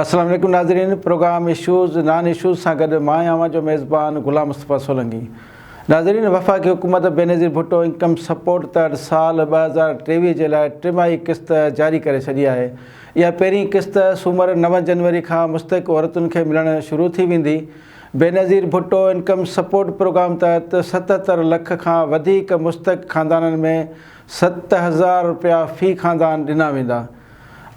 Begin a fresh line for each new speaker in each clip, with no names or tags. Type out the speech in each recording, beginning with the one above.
السلام عليڪم ناظرين پروگرام اشوز نان اشوز سان گڏ مان آهيان اوهان جو ميزبان غلام مصطفيٰ سولنگي ناظرين وفاقي حڪومت بينظير ڀٽو انڪم سپورٽ تحت سال ٻه هزار ٽيويهه جي لاء ٽماهي قسط جاري ڪري ڇڏي آهي اها پهرين قسط سومر نو جنوري کان مستحق عورتن کي ملڻ شروع ٿي ويندي Benazir Bhutto income support programme تحت ستهتر لک کان وڌيڪ مستحق خاندانن ۾ ست هزار رپيا في خاندان ڏنا ويندا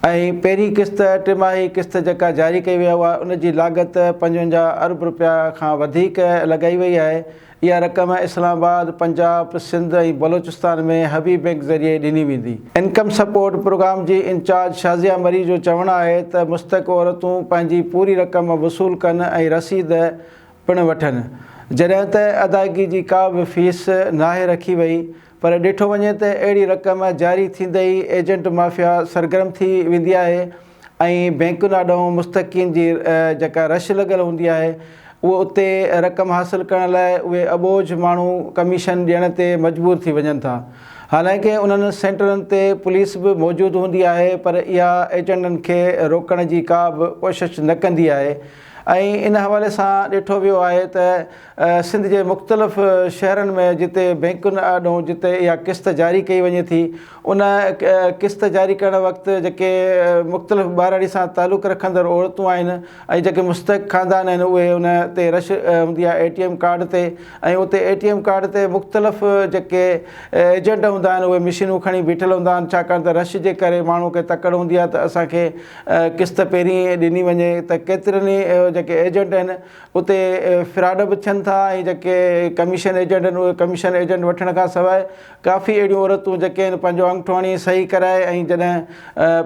۽ پهرين قسط ٽماهي قسط جيڪا جاري ڪئي وئي آهي ان جي لاڳت پنجونجاهه ارب رپيا کان وڌيڪ لڳائي وئي آهي اها رقم اسلام آباد، پنجاب، سنڌ ۽ بلوچستان ۾ هبي بئنڪ ذريعي ڏني ويندي. انڪم سپورٽ پروگرام جي انچارج شازيا مري جو چوڻ آهي ته مستحق عورتون پنهنجي پوري رقم وصول ڪن ۽ رسيد پڻ وٺن جڏهن ته ادائگي جي ڪا به فيس ناهي رکي وئي. پر ڏٺو وڃي ته اهڙي رقم جاري ٿيندي ئي ايجنٽ مافيا سرگرم ٿي ويندي آهي ۽ بئنڪن آڏئون مستحقين جي جيڪا رش لڳل هوندي آهي اهو اتي رقم حاصل ڪرڻ لاء اهي اٻوجهه ماڻهو ڪميشن ڏيڻ تي مجبور ٿي وڃن ٿا حالانڪه انهن سينٽرن تي پوليس به موجود هوندي آهي پر اها ايجنٽن کي روڪڻ جي ڪا به ڪوشش نه ڪندي آهي ۽ ان حوالي سان ڏٺو ويو آهي ته سنڌ جي مختلف شهرن ۾ جتي بئنڪن آڏو جتي اها قسط جاري ڪئي وڃي ٿي ان قسط جاري ڪرڻ وقت جيڪي مختلف ٻهراڙي سان تعلق رکندڙ عورتون آهن ۽ جيڪي مستحق خاندان آهن اهي ان تي رش هوندي آهي اي ٽي ايم ڪارڊ تي ۽ اتي اي ٽي ايم ڪارڊ تي مختلف جيڪي ايجنٽ هوندا آهن اهي مشينون کڻي بيٺل هوندا آهن ڇاڪاڻ ته رش جي ڪري ماڻهو کي تڪڙ هوندي آهي ته اسان کي قسط پهرين ڏني وڃي ته ڪيترن ئي جيڪي ايجنٽ آهن اتي فراڊ به ٿين ٿا ۽ جيڪي ڪميشن ايجنٽ آهن اهي ڪميشن ايجنٽ وٺڻ کان سواء ڪافي اهڙيون عورتون جيڪي آهن پنهنجو انگٺو هڻي صحيح ڪرائي ۽ جڏهن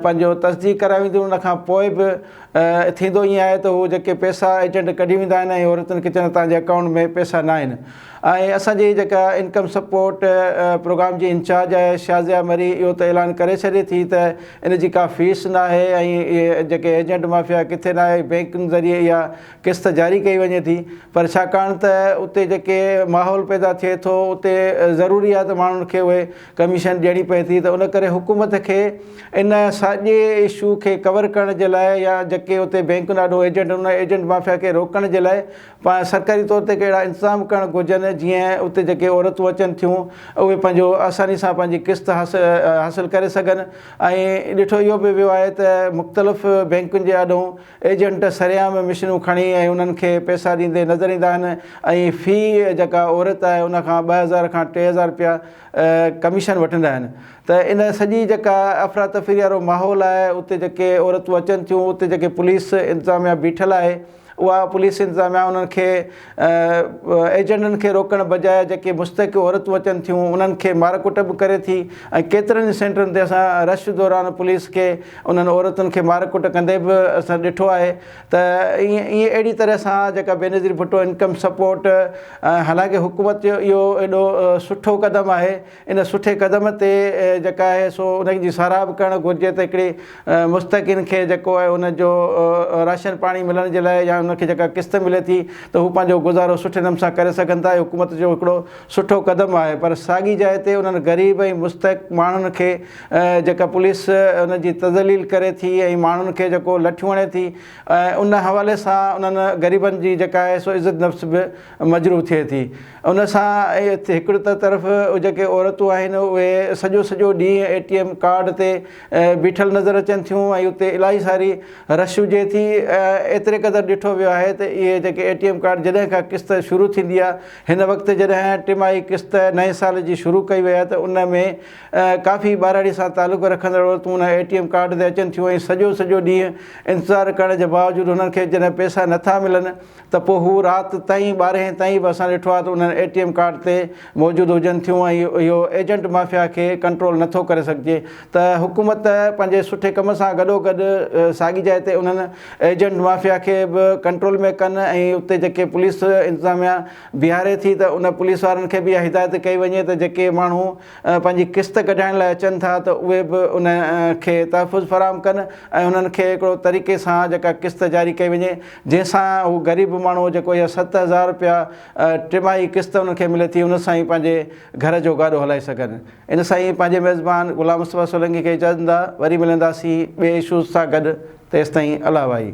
پنهنجو تصديق ڪرائي وينديون ان کان پوء به ٿيندو ائين آهي ته هو جيڪي پيسا ايجنٽ ڪڍي ويندا آهن ۽ عورتن کي چوندا آهن تهنجي اڪائونٽ ۾ پيسا ناهن آهي اسان جي جيڪا انڪم سپورٽ پروگرام جي انچارج آهي شازيا مري اهو ته اعلان ڪري ڇڏي ٿي ته ان جي ڪا فيس ناهي ۽ اهي جيڪي ايجنٽ مافيا ڪٿي ناهي بينڪن ذريعي اها قسط جاري ڪئي وڃي ٿي پر ڇاڪاڻ ته اتي جيڪي ماحول پيدا ٿئي ٿو اتي ضروري آهي ته ماڻهن کي اهي ڪميشن ڏيڻي پئي ٿي ته ان ڪري حڪومت کي ان ساڄي اشو کي ڪور ڪرڻ جي لاء يا جيڪي اتي بينڪن آڏو ايجنٽ ان ايجنٽ مافيا کي روڪڻ جي لاء پاء سرڪاري طور تي ڪي اهڙا انتظام ڪرڻ گهرجن جيئن اتي جيڪي عورتون اچن ٿيون اهي پنهنجو آساني سان پنهنجي قسط حاصل ڪري سگهن ۽ ڏٺو اهو به ويو آهي ته مختلف بينڪن جي آڏو ايجنٽ سرعام مشينون کڻي ۽ انهن کي پئسا ڏيندي نظر ايندا آهن ۽ في جيڪا عورت آهي ان کان ٻه هزار کان ٽي هزار رپيا ڪميشن وٺندا آهن ته ان سڄي جيڪا افراتفري وارو ماحول آهي اتي جيڪي عورتون اچن ٿيون اتي جيڪي پوليس انتظاميا بيٺل آهي اها پوليس انتظاميا انهن کي ايجنٽن کي روڪڻ بجاء جيڪي مستحق عورتون اچن ٿيون انهن کي مارڪٽ به ڪري ٿي ۽ ڪيترن ئي سينٽرن تي اسان رش دوران پوليس کي انهن عورتن کي مارڪٽ ڪندي به اسان ڏٺو آهي ته ائين اهڙي طرح سان جيڪا بينظير ڀٽو انڪم سپورٽ حالانڪه حڪومت جو اهو ايڏو سٺو قدم آهي ان سٺي قدم تي جيڪا آهي سو ان جي ساراهه به ڪرڻ گهرجي ته هڪڙي مستحقين کي جيڪو آهي ان جو راشن پاڻي ملڻ جي لاء يا ان کي جيڪا قسط ملي ٿي ته هو پنهنجو گذارو سٺي نموني سان ڪري سگهن ٿا اهو حڪومت جو هڪڙو سٺو قدم آهي پر ساڳي جاء تي انهن غريب ۽ مستحق ماڻهن کي جيڪا پوليس ان جي تذليل ڪري ٿي ۽ ماڻهن کي جيڪو لٺيون هڻي ٿي ان حوالي سان انهن غريبن جي جيڪا آهي سو عزت نفس به مجروح ٿئي ٿي ان سان هڪڙي ته طرف جيڪي عورتون آهن اهي سڄو سڄو ڏينهن اي ٽي ايم ڪارڊ تي بيٺل نظر اچن ٿيون ۽ اتي الاهي ساري رش هجي ٿي ايتري قدر ڏٺو ويو آهي ته اهي جيڪي اي ٽي ايم ڪارڊ جڏهن کان قسط شروع ٿيندي آهي هن وقت جڏهن ٽماهي قسط نئين سال جي شروع ڪئي وئي آهي ته ان ۾ ڪافي ٻاراڙي سان تعلق رکندڙ عورتون ان اي ٽي ايم ڪارڊ تي اچن ٿيون ۽ سڄو سڄو ڏينهن انتظار ڪرڻ جي باوجود هنن کي جڏهن پئسا نٿا ملن ته پوء هو رات تائين ٻارهين تائين به اسان ڏٺو آهي ته انهن اي ٽي ايم ڪارڊ تي موجود هجن ٿيون ۽ اهو ايجنٽ مافيا کي ڪنٽرول نه ٿو ڪري سگهجي ته حڪومت پنهنجي سٺي ڪم سان گڏوگڏ ساڳي جاء تي انهن ايجنٽ مافيا کي به ڪنٽرول ۾ ڪن ۽ اتي جيڪي پوليس انتظاميا بيهاري ٿي ته ان پوليس وارن کي به اها هدايت ڪئي وڃي ته جيڪي ماڻهو پنهنجي قسط ڪڍائڻ لاء اچن ٿا ته اهي به ان کي تحفظ فراهم ڪن ۽ انهن کي هڪڙو طريقي سان جيڪا قسط جاري ڪئي وڃي جنهن سان هو غريب ماڻهو جيڪو اها ست هزار رپيا ٽماهي قسط انهن کي ملي ٿي ان سان ئي پنهنجي گهر جو گاڏو هلائي سگهن. ان سان ئي پنهنجي ميزبان غلام مصطفيٰ سولنگي کي اجازت ڏيندا وري ملنداسين ٻئي اشوز سان گڏ تيستائين الله وائي.